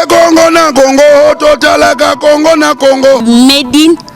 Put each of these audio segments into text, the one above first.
Congo na Congo, totalaka Congo na Congo. Made in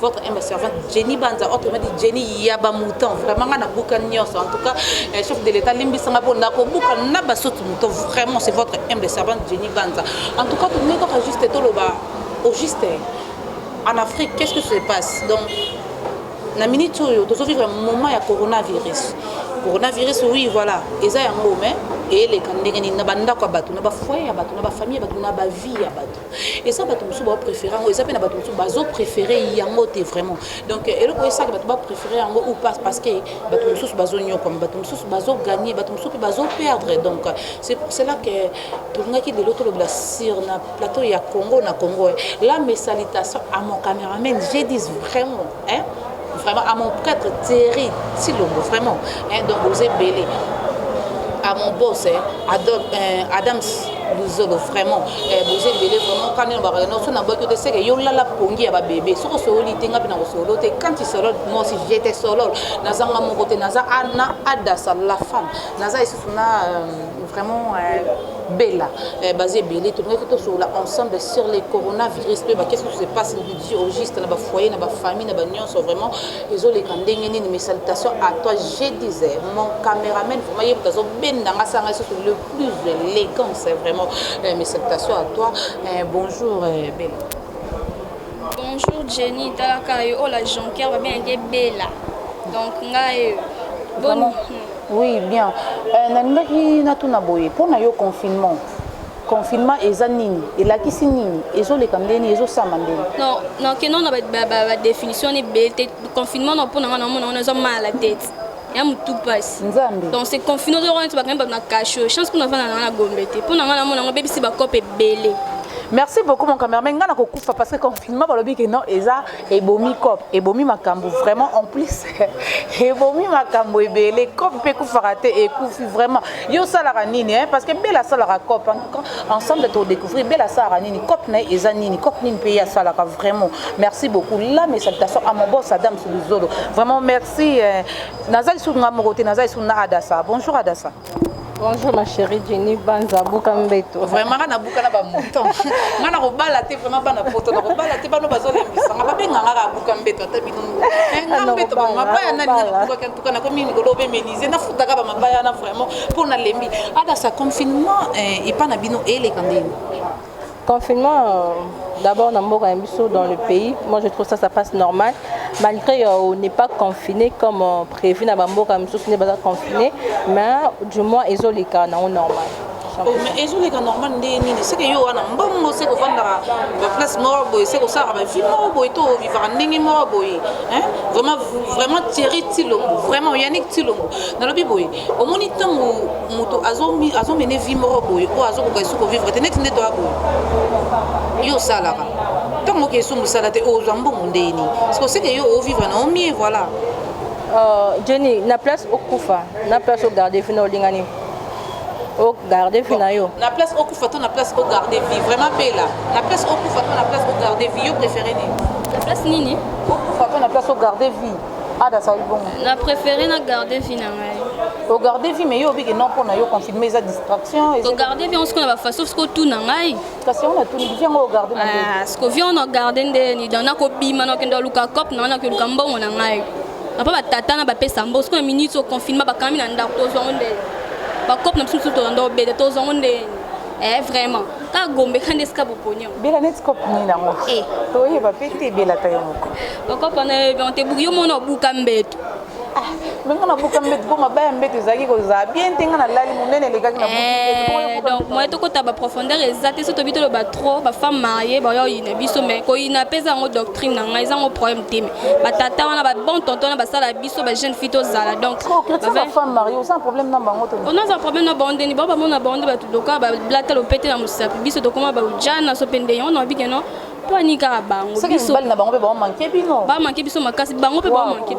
votre humble servante Jenny Banza autrement dit Jenny ya ba mouton vraiment nga na buka nyonso en tout cas eh, chef de l'état limbisa nga pona ko buka na ba sotu mouton vraiment c'est votre humble servante Jenny Banza en tout cas tout ne ko juste to loba au juste eh, en Afrique qu'est-ce que se passe donc na minute oyo tozo vivre moment ya coronavirus coronavirus oui voilà eza yango mais eyeleka ndenge nini na bandako ya bato na bafoye ya bato na bafamille ya bato na bavie ya bato eza bato mosusu bao préféré yango eza mpe na bato mosusu bazo préféré yango te vraiment donc euh, eloko esaka bato ba préféré yango ou pas parce que bato mosusu bazonyokwama bato mosusu bazogagne bato mosusu mpe bazoperdre donc euh, c'est pour cela que tolingaki lelo tolobela sur na plateau ya congo na congo la mesalitation à mon cameraman je dis vraiment Hein? Vraiment, à mon prêtre Thierry Silombo, vraiment. Hein? Donc, vous êtes belé. À mon boss, hein? Adam, euh, Adams luzolo vraiment eh, boza ebele vraiment kani na bakaka nyonso na boki te seke yo olala pongi ya babebe soki osololi te nga mpe na kosolo te quand isolol mosi jete solol naza nga moko te naza ana adasa la femme naza lisusu na euh, vraiment euh, bella eh, baza ebele tolingaki tosolola ensemble sur les coronavirus mpe bakesi se passe au juste na ba foyer na ba famille na ba nionso vraiment ezo leka ndenge nini mes salutations à toi je disais mon cameraman vraiment ye azo benda nga sanga surtout le plus élégant c'est vraiment euh, mes salutations à toi euh, bonjour euh, Bella bonjour Jenny talaka yo oh la jonker va bien que Bella donc nga euh, bon oui bien euh, nalingaki natuna boye mpo na yo confinement Confinement eza nini? Elakisi nini? Ezoleka ndenge nini? Ezosama ndenge nini? Non, non, que non, ba definition ni bete. Confinement na pona wana mona wana eza mal à tête. ya motu mpasi donc se confine ozoko neti bakangi bato na kasho chance mpona vanda nanga na gombe te mpo na ngai namona yango bebisi bakope ebele merci beaucoup mon cameraman ngai nakokufa parce que confinement balobi ke non eza ebomi cop ebomi makambo vraiment en plus ebomi makambo ebele cop mpe ekufaka te ekufi vraiment yo osalaka nini hein? parce que bela asalaka cop ensemble todécouvrir bela asalaka nini cop na ye eza nini cop nini mpe ye asalaka vraiment merci beaucoup la mes salutations à mon boss adam suluzolo vraiment merci eh. naza lisusu nga moko te naza lisusu na adasa bonjour adasa Bonjour ma chérie Jenny Banza buka mbeto. Vraiment nga nabuka na ba mouton. nga na kobala te vraiment bana poto na kobala te bano bazo lembisa nga babe nga nga buka mbeto ata bino. Eh, nga mbeto ba mabaya na nina na buka kan tuka na komi ngolo be menise na futaka ba mabaya na vraiment pour na lembi. Ada sa confinement eh, epa na bino ele kandeni. Confinement, euh, d'abord dans Mboka Mbiso, dans le pays, moi je trouve ça, ça passe normal. Malgré euh, on n'est pas confiné comme euh, prévu dans Mboka Mbiso, ce n'est pas confiné, mais du moins, ils ont les cas normal. Oh, mais ezoleka normal ndenge nini seke yo wana mbongo se kofandaka baplace moko boye se kosalaka bavi moko boye to ovivaka ndenge moko boye vraiment vraiment thierry tilongo vraiment yanik tilongo nalobi boye omoni ntango moto azomene vi moko boye oyo azokoka esu kovivre te neti nde toya boye yo osalaka ntango oke esu mosala te ozwa mbongo ndeni sikoseke yo ovivre na omie voilà euh, jenny na place okufa na place ogarde fi na olingani ogarde fi na yo na place okufa to na place ogarde vi vraiment bela na place okufa to na place ogarde vi yo préféré nini na place nini okufa to na place ogarde vi ada asali bongo na préféré na garde vie na ngai ogarde vie mais yo obiki non mpo na yo confirme eza distraction ogarde vie osiko na bafaso siko otuna ngai kasi yango natuni vie yango ogarde ah, siko vie ono ogarde nde nida nakobima nakende aluka cope na ngai nakeluka mbongo na ngai apa batata na bapesa mbo siko na minute oconfirme bakangami na ndako tozwa ngo nde bacope na biso mosusu tolanda obele tozwa ngo nde eh vraiment kaka gombe kande esika boponio bela neti cope nini yango eh. toyeba mpe te bela ta yo moko okopa na yo te buki yo mona obuka mbeto ah, me nga nabuka mbeto mpo mabaya mbeto ezalaki kozala bien te nga nalali monene elekaki na eh, donc moye tokota baprofondeur eza te so tobi toloba trop bafemme marie baoya oyina biso mai koyina mpe eza yango doctrine na ngai eza yango problème te mai batata wana babon tonton wana basala biso ba jeune fille tozala donc oh, femme mariée oza un problème na bango on a un problème na bango ndeni bao bamona bango nde bato doka bablata lopete na mosapi biso tokoma baujana so mpe ndenge wana obike no mpo anikaka bango bisona bango mpe baomanke bino bamanke biso makasi bango mpe bamanke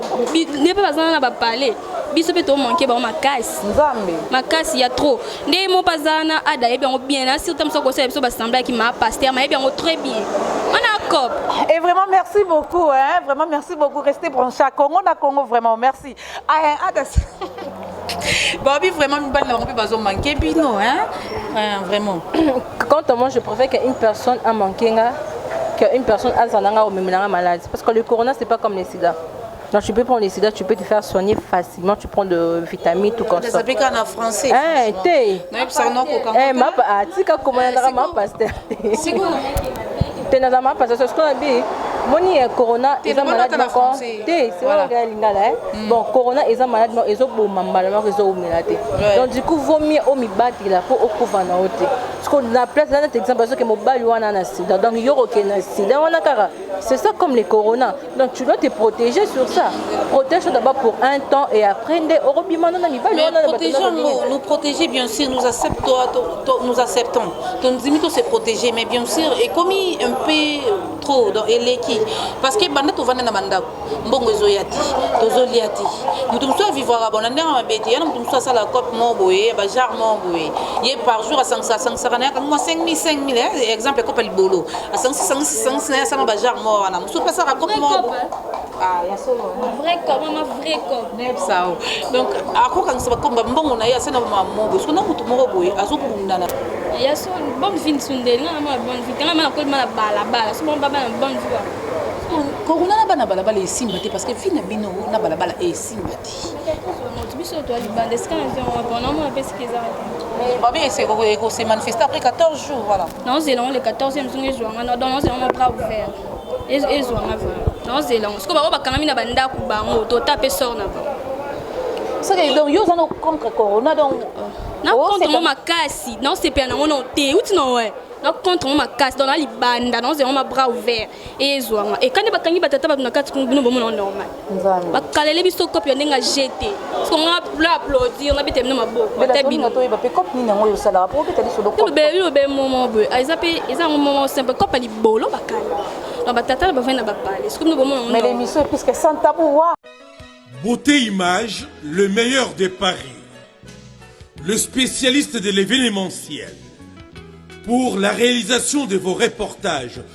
nde mpe bazana na bapale biso mpe tomanke bango makasi nzambe makasi ya trop nde ye moko aza na ada ayebi yango bien na surta mosu akosala biso basemble yaki ma paster mayebi yango très bien wana cop et vraiment merci beaucoup hein vraiment merci beaucoup restez branché à congo na congo vraiment merci ah, hein, ada babi vraiment mibali na bango mpe bazomanke bino hein hein, vraiment quand moi je préfère qu'une personne amanke nga qu'une personne azala nga omemela nga malade parce que le corona c'est pas comme le sida Non, tu peux prendre les sida, tu peux te faire soigner facilement, tu prends de vitamines, tout comme ça. Ça pique en français. Eh, t'es. Non, il s'en a qu'au Eh, ma pa, ah, tu sais comment on a ma pasteur. C'est quoi T'es dans ma pasteur, c'est ce qu'on a dit. moni ya corona eza maladi moko te se wana kaka ya lingala e hmm. bon corona eza maladi moko ezoboma mbala moko ezoumela te donc du coup vaut mieux omibatela mpo okufa na yo te parceke na place eza neti exemple azoke mobali wana na sida donc yo kokende na sida wana kaka c'est ça comme le corona Donc tu dois te protéger sur ça. Protège-toi d'abord pour un temps et après nde orobima na mibali Mais wana na bato na protégeons nous, bolingo. nous protéger bien sûr, nous acceptons, to- to- nous acceptons. Ton dimi to se protéger, mais bien sûr, et comme un peu trop dans eleki, parce que banda to vanda na banda, mbongo ezo yati, tozo liati. Mutu mutu a vivre à bon, ndanga mabete, yana mutu mutu a sala cop mo boye, ba jar mo boye. Ye par jour a sangsa sangsa na yaka moi 5000 5000, hein, exemple cop libolo. asangisi sangisi sangisi na ye asanga bajar moko wana mosusu mpe asaka kope moko ah, sao donc akokangisa bakomba mbongo na ye asana bamamo boye soko na motu moko boye azobundana ya so bonne vie nsundeli nga namona bonne vie tanga mana kolima na balabala so bongo babana bonne vie wana kokuna na bana balabala esimba te parce que vie na bino na balabala esimba te moto biso toa libanda esika na vie wana bonamona mpe esika eza te ekosemanifeste après 14 jours voilà naozela yango le 14 mizungu ezwa nga donc naozela yango na bras ouvert ezwa nga vraimen naozela yango sikoyo bango bakangami na bandako bango tota mpe sor na bango soki donc yo oza na contre corona donc na contre ngo makasi naosepela nango no te uti no we na contre ngo makasi donc na libanda naozela ngo ma bras ouvert ezwama ekani bakangi batata bato na kati kuna bino bomona normal bakalele biso kope ya ndenge ajete songa pla aplaudir na bete bino maboko ata bino toyeba mpe kope nini yango oyo osalaka mpo obeta lisolo kope bino be momo boye ah, eza mpe eza yango momo simple kope ya libolo bakali na batata na bavai na bapale soki bino bomona mais l'émission est plus que sans tabou wa beauté image le meilleur de paris le spécialiste de l'événementiel pour la réalisation de vos reportages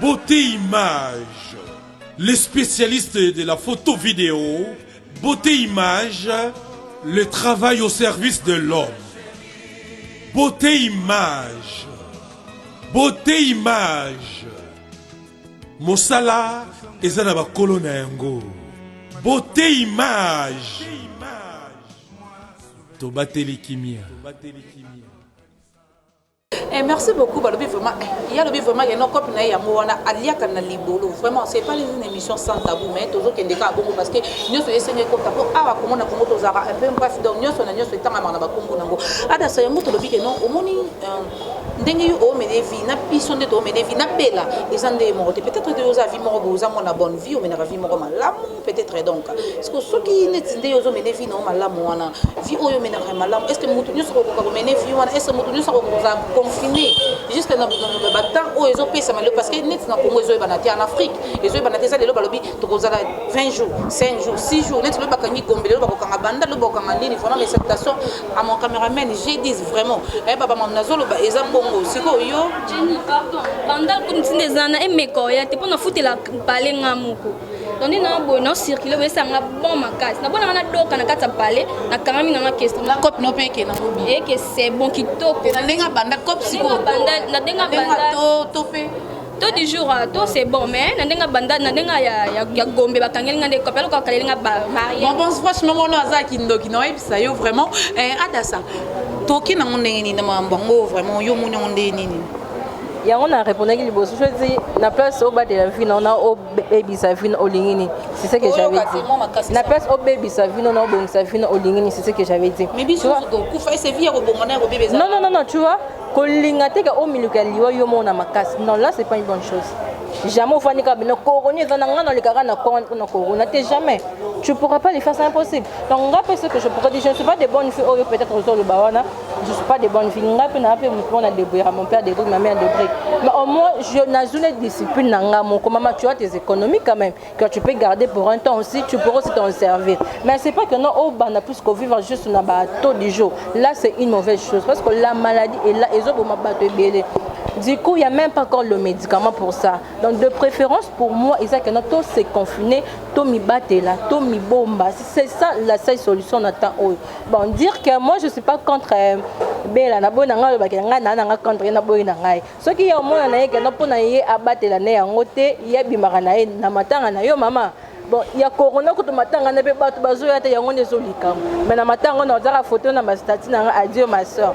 Beaute Image, le specialiste de la photo video, Beaute Image, le travail au service de l'homme. Beaute Image, Beaute Image, mosala eza na bakolo na yango. Beaute Image, tobateli kimia. Eh, merci beaucoup balobi vraiment eh, ye alobi vraiment yeno cope na ye yango wana aliaka na libolo vraiment c'est pas une émission sans tabou mais tozokende kaka bongo parce que nyonso esengi ekota mpo awa komona kongo tozalaka un peu mpasi donc nyonso na nyonso etangamaka na bakombo nango adasa ah, yango tolobi ke non omoni euh, ndenge yo omene vie na biso nde tomene vie na bela eza nde moko te peut-être te oza vie moko boye oza mwana bonne vie omenaka vie moko malamu peut-être donc siko soki neti nde ozo mene vie nao malamu wana vie oyo menaka malamu est ce que moto nyonso kokoka komene vie wana est ce que moto nyonso akoka kozala confine jusque na batemp oyo ezopesama lelo parce que neti na congo ezoyebana te en afrique ezoyebana te eza lelo balobi tokozala 20 jours 5 jours 6 jours neti lelo bakangi gombe lelo bakokanga banda lelo bakokanga nini vraiment mes salutations à mon cameraman j'ai dis vraiment eh, ayeba bamam nazoloba eza bongo sikoyo yo banda ntina eza na emeka oya te mpo nafutela balenga moko toni na boye na circule boye esanga bon makasi na bona ngana doka na kati ya palais na kangami na nga question na cop no pe ke na bobi et que c'est bon kitoko na denga banda cop siko banda na denga banda to to pe to du jour euh, to c'est bon mais na denga banda na denga ya ya gombe ba kangeli nga ndeko pelo ko kaleli nga ba marié bon bon franchement mono aza kindoki na yebisa yo vraiment eh adasa toki na ndenge nini na mambo ngo vraiment yo moni ndenge nini yango na répondaki liboso soki na place obatela vie na ona bebisa vino olingi nini c'est ce que j'avais dit na place obebisa vino na obongisa vino olingi nini c'est ce que j'avais dit non non non non tu vois kolinga te ka omiluka liwa yo mona makasi non là c'est pas une bonne chose jamais ofandi kaka bino corona eza na ngai nalekaka na corona mpo na corona te jamais tu pourras pas le faire c'est impossible donc ngai mpe ce que je pourrais dire je ne suis pas de bonne fille oyo peut-être ozoloba wana je suis pas de bonne fille nga mpe naa mpe motu moko na debrouillaka mon père debrouille ma mère debrouille mais au moins je nazwi na discipline na nga moko mama tu as tes économies quand même que tu peux garder pour un temps aussi tu pourras aussi t'en servir mais c'est pas que non obanda oh, plus kovivre juste na bato du jour là c'est une mauvaise chose parce que la maladie est là ezoboma bato ebele Du coup, il n'y a même pas encore le médicament pour ça. Donc, de préférence, pour moi, ils ont tout se confiner, tout mi battre là, tout mi bomba. C'est ça la seule solution, on attend. bon dire que moi je suis pas contre euh, bela na boyi na ngai alobaki na ngai naa na ngai contre ye na boyi na ngai soki ye omona na ye kenda mpo na ye abatela na yango te ye abimaka na ye na matanga na yo mama bon ya corona kutu matanga na mpe bato bazoya te yango nde ezolikambo me na matanga ona ozaka foto na bastati na ngai adio ma soeur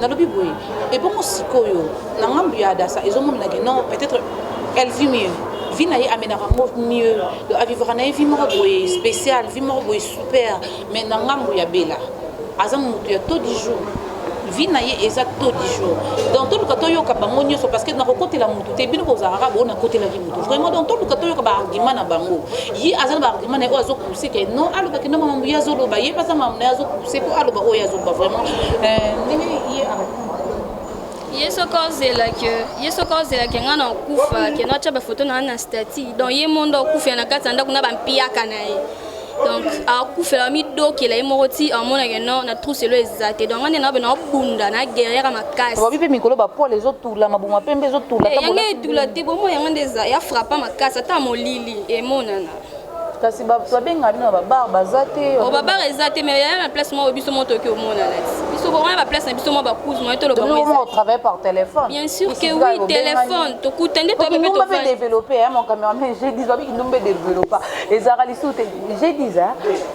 Nalobi boye ebongo sikoyo na ngambu ya Adasa ezo monana que non peut-etre elle vit mieux vie na ye amenaka ngo mieux donc avivaka na ye vie moko boye spécial vie moko boye super mais na ngambu ya Bella aza mutu ya taux du jour vie na ye eza taux du jour donc toluka toyoka bango nyonso parce que nakokotela mutu te bino bozalaka kaka bo nakotelaki mutu vraiment donc toluka toyoka ba argument na bango ye aza na ba argument na ye oyo azo sike non aloba kenda mamambo ye azoloba ye baza mambo na ye azokuse mpo aloba oyo azoloba vraiment euh, ndenge ye ye soki ozelaki ye soki ozelaki ngai na okufa ke natya bafoto na ngai na stati donc ye mondo okufela na kati ya ndako na bampiyaka na ye donc akufela midokela ye moko ti amonake no na truselo eza te donc ande naobe naobunda na guerriere makasi babi mpe mikolo bapole ezotula mabuma mpe mpe ezotula eh, yango etula te bomo yango nde eza ya frappa makasi ata molili emonana kasi bato babenga bino na babar baza te o oh, babar eza te mais yaya na place moko biso moko toki omonana ti biso bokoya na place na biso mwa bacouze moye tolobaotravaille par téléphone bien sûr que oui téléphone tokuta nde toyebimbe mpe développe ya mon cameraman g10 babi kindumbe développa ezalaka lisusu te g10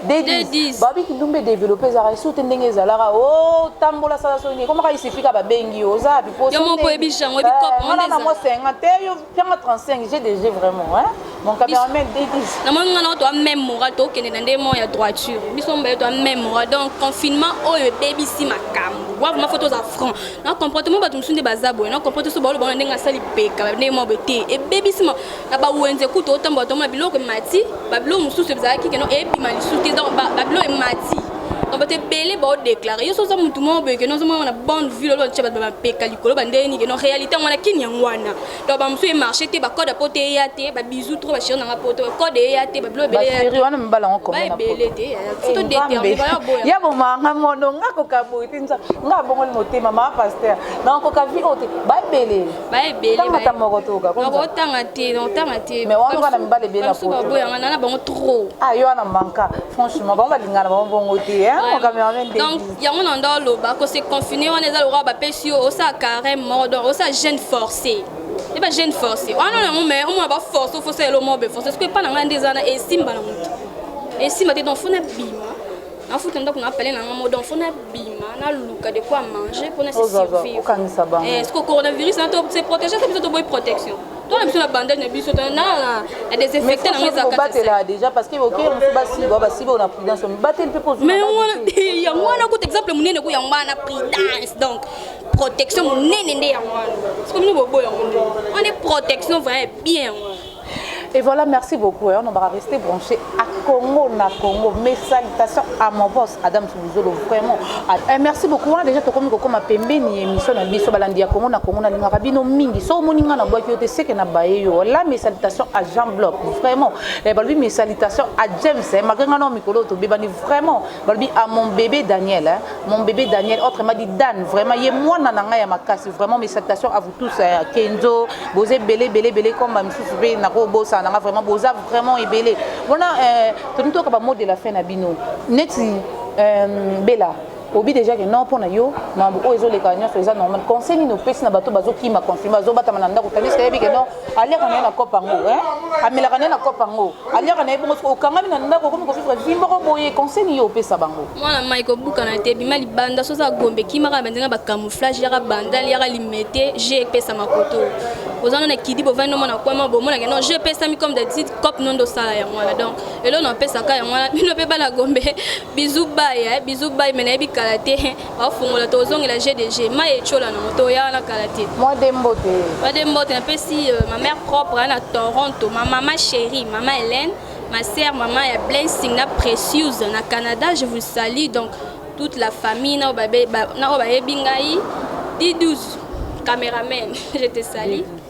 d10 babi kindumbe développe ezalaka lisusu te ndenge ezalaka o oh, tambola sala soki ekomaka isifika babengi yo oza biposo yo moko oyebi jango ebi eh, cope wana na mwa 50 te Pianga 35 j'ai déjà vraiment hein mon cameraman Davis na moni ngana to même moral to kende na ndemo ya droiture biso mbaye to même moral donc confinement oyo ebebisi makambo wa vraiment faut toza franc na comportement bato mosusu nde baza boye na comporte so baolo bango na ndenge asali peka ndenge mwa boye te ebebisi ma na bawenze kutu otambola tomona biloko emati babiloko mosusu ezalaki keno ebima lisusu te donc babiloko emati na bato ebele baodeklare yo so oza motu moko boye keno ozomona na bande ville oloba tia bato bapeka likolo bandenge nini keno réalité yango wana kini yango wana donc bamosusu emarche te bacode ya poto eya te babisou trop bachéri nanga poto code eya te babilo ebele wana mibala yango komona ebele te fito determine bayo boya ya bomanga mono nga kokaboye te nza nga abongoli motema ma pasteur na koka vie oyo te baebele ba ebele tanga ta moko toka ko ko tanga te non tanga te mais wana kana mibale ebele na poto boya ngana na bango trop ah yo wana manka franchement bango balingana bango bongo te hein mon cameraman de donc yango na ndo loba ko se confiner wana eza lokola ba pesi yo osa carême mort donc osa jeune forcé ye ba jeune forcé wana na yango mais omona ba force ofosa elo mobe force parce que epa na ngai nde eza na esimba na moto esimba te donc fona bima nafuta ndako na pale na nga mo donc fo nabima naluka de quoi manger mpo na survivresoki eh, coronavirus na to se protège ata biso toboyi protection tona biso na bandage na biso na desinfecte nango ezakatela déjà parce que okeyi mosu basiba basiba na prudence mibateli mpe pozumai yango wana kuta exemple monene ko yango wana prudence donc protection monene nde yango wana soki bino boboya yango nde wana protection vraiment bien yango Et voilà, merci beaucoup. Hein. On va rester branché à Congo, na Congo. Mes salutations à mon boss, Adam Soubizolo, vraiment. Ah, eh, merci beaucoup. Hein. Déjà, tu comme comme ma pembe ni émission na biso balandi à Congo, na Congo, na linga rabino mingi. So moninga na bois qui était sec na baye yo. Là, mes salutations à Jean Bloc, vraiment. Eh, balbi mes salutations à James, hein. Malgré nga non mikolo to bebani vraiment. Balbi à mon bébé Daniel, hein. Mon bébé Daniel, autrement dit Dan, vraiment. Yé moi na nanga ya makasi, vraiment mes salutations à vous. tous ya euh, kenzo boza ebele ebele ebele comme ba misusu mpe nakobosana nanga vraiment boza vraiment ebele wana euh, tolingi toyoka bamot de la fin na bino neti euh, bela obi déjà ke non mpo na yo mambo oyo ezoleka nyonso eza normal conseil nini opesi na bato bazokima confinement bazobatama na ndako tandis kayebi ke non aleka na ye na cope yango amelaka na ye na cope yango aliaka na ye bongo soki okangami na ndako okomi kovivre vi moko boye conseil nini yo opesa bango mwana mai kobukana te bima libanda soki oza gombe kimaka banzenga bacamouflage yaka bandal yaka limete je epesa makoto oza no na kidi bovandi nomona kwama bomonake non je epesami comme d'habitude cop nondo osala yango wana donc elo na opesaka yango wana bino mpe bana gombe bizu baya eh, bizu bayi me nayebi kala te bafungola tozongela gdg mai etyola nango toya na kala te mwadembote mwadembote napesi euh, ma mère propre na toronto ma mama chérie mama hélène ma sœur mama ya blessing na précieuse na canada je vous salue donc toute la famille na oyo bayebi ngai d12 cameraman je te salue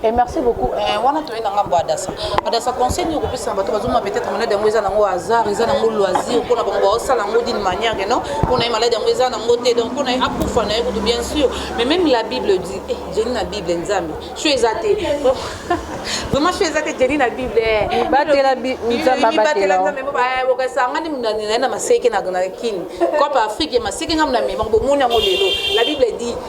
Et eh, merci beaucoup. Eh, wana toye na ngambo adasa. Adasa conseil ni kopesa na bato bazoma peut-être malade yango eza nango hasard, eza nango loisir pona bango ba osala yango d'une manière que non, pona malade yango eza nango te donc pona akufa na yekutu bien sûr. Mais même la Bible dit, eh Jenny na Bible nzambe. Sho eza te. Vraiment sho eza te Jenny na Bible. Eh. Batela nzambe batela nzambe ba eh, bokasa ngani munani na maseke na na kin. Copa Afrique maseke ngamna me bango moni yango lelo. La Bible dit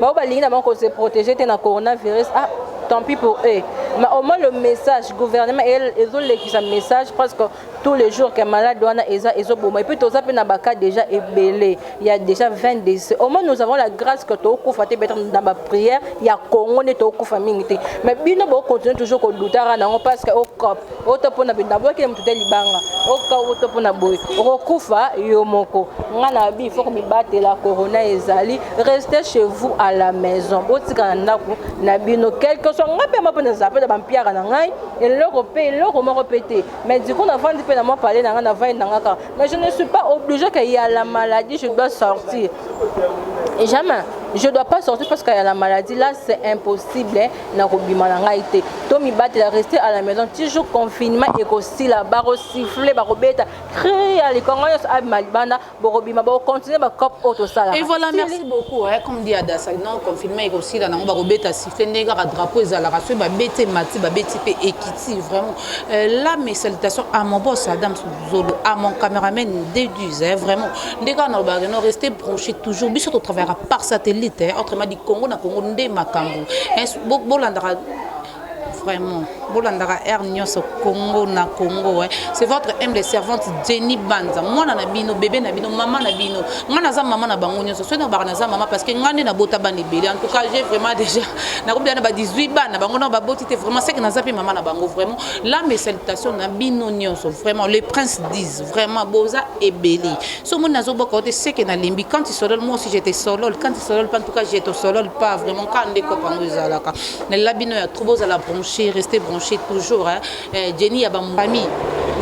Baoyo balingi na bango ko se protéger te na coronavirus, ah tant pis pour eux. Mais au moins le message, gouvernement ezolekisa message presque tous les jours que malade wana eza ezoboma. Et puis toza pe na ba cas déjà ebele. Il y a déjà 20 décès. Au moins nous avons la grâce que tokufa te peut-être dans ba prière ya Congo ne tokufa mingi te. Mais bino bo continuer toujours ko doutara na ngo parce que au COP oto mpo na bino naboyaki na moto te libanga oka oto mpo na boye okokufa yo moko ngai na bi fo komibatela corona ezali reste chez vous à la maison botika na ndako na bino quelque soit ngai mpe mapo nazala mpe na bampiaka na ngai eloko mpe eloko moko mpe te mais du coup navandi mpe na mwa pale na ngai navandi na ngai kaka mais je ne suis pas obligé que ya la maladie je dois sortir jamais je dois pas sortir parce que ya la maladie là c'est impossible na kobima na ngai te to mibatela reste à la maison ti jour confinement ekosila bakosifle bakobeta cri ya likongo nyonso abima libanda bokobima bokontinue bacope oyo tosalaka et voilà merci beaucoup eh, comme dit adasa non confinement ekosila nango bakobeta sifle ndenge kaka drapeau ezalaka soki babeti emati babeti mpe ekiti vraiment euh, là mes salutations à mon boss adams zolo à mon cameraman déduise hein, vraiment nde kaka nalobaka keno reste branché toujours biso totravaillaka par satellite hein, autrement dit congo na congo nde makambo hein, bolandaka vraiment bolandaka aire nyonso congo na congo hein. c'est votre humble servante jenny banza mwana na bino bebe na bino mama na bino ngai naza mama na bango nyonso soki nabaka naza mama parce que ngai nde nabota bana ebele en tout cas j'ai vraiment déjà nakobila na ba 18 bana bango na baboti te vraiment seke naza mpe mama na bango vraiment la mes salutations na bino nyonso vraiment les princes disent vraiment boza ebele so moni nazoboka te seke nalembi quand tu solole moi aussi j'étais solole quand tu solole pas en tout cas j'étais solole pas vraiment quand nde kopa yango ezalaka nalela bino ya trop bozala branché rester branché toujours hein. Eh, jenny ya bamfamille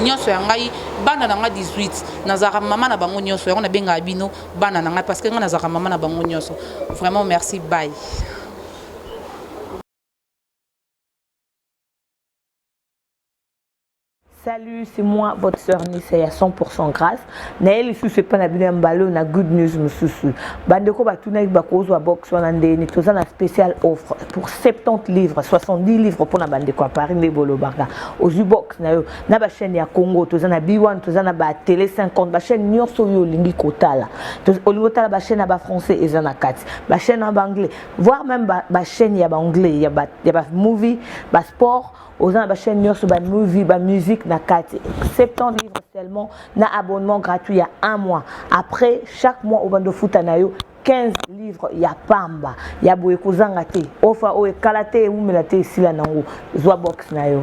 nyonso ya ngai bana na ngai 18 nazalaka mama na bango nyonso yango nabengaka bino bana na ngai parce que ngai nazalaka mama na bango nyonso vraiment merci bye Salut, c'est moi, votre sœur Nissa ya 100% grâce. Naye lisusu epa na bino ya mbalo na good news mususu. Bandeko batunaki bakozwa box wana ndeni toza na spécial offre pour 70 livres, 70 livres pona bandeko à Paris nde bolobaka. Ozwi box na yo na ba chaîne ya Congo, toza na B1, toza na ba télé 50, ba chaîne nyonso yo olingi kotala. Olingi kotala ba chaîne ya ba français eza na kati, ba chaîne ya ba anglais voir même ba, ba chaîne ya ba anglais ya ba, ya ba movie ba sport oza na ba chaîne nyonso ba movie ba musique na kati 70 livres seulement na abonnement gratuit ya un mois après chaque mois obanda ofuta na yo 15 livres ya pamba ya boye kozanga te ofa oyo ekala te ewumela te esila nango zwa box na yo